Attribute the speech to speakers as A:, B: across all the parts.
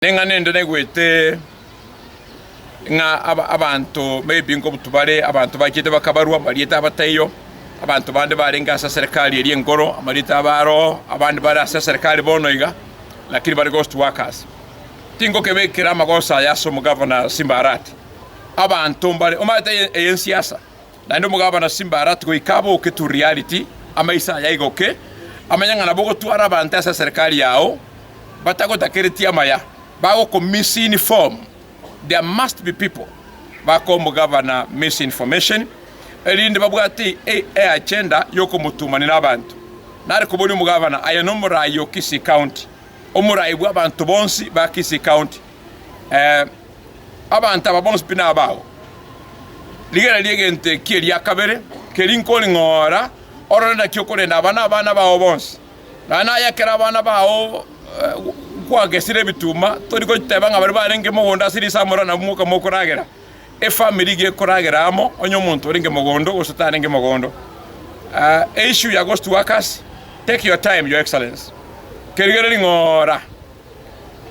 A: Neng'ana ende naigwete ng'a abanto b'ebingo obotuko bare abanto bachete bakabarwa amarieta abataiyo, abanto bande barenge ase eserekari eria enkoro, amarieta abe aroo, abande bare ase eserekari bono iga, lakini bare ghost workers. Tingokebekera amagoso aya ase omogavana Simbarati. Abanto mbare omanyete eye ensiasa. Naende omogabana Simbarati goika aboke Turialiti, amaiso aye aigoke, amanye ng'a nabo ogotwara abanto ase eserekari yao batagotakeretie amaya, bagokomisinform, there must be people bakoa omogabana misinformation, erinde babwate eagenda y'okomotumanera abanto. Nare koboria omogabana, Aye nomorai o Kisii County, omorai bw'abanto bonsi ba Kisii County? Abanto aba bonsi pi nabao. Rigena ri'egento eki eria kabere keria inkori ng'ora orore naki okorenda aba nabana bao bonsi. Naende aye ekero abana bao kwagesire ebituma tori goteba ng'a baria barenge mogondo ase risamoro nabwo mokaba mokoragera. Efamiri iga ekoragera amo onye omonto orenge mogondo gose tarenge mogondo. Eissue ya gose to work as, take your time your excellency. Kerigere ring'oora.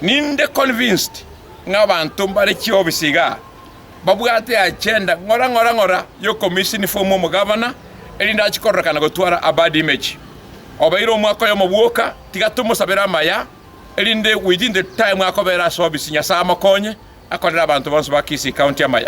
A: Ninde convinced ng'a abanto mbare chiofisi iga babwate agenda ng'ora ng'ora ng'ora y'okomisini fomu omogavana erinde ache kororekana gotwara a bad image. Obeire omwaka oyomo bwoka, tiga tomosabere amaya erinde within the time akobera ase ofisi Nyasae amokonye akorere abanto bonsi ba Kisii County amaya.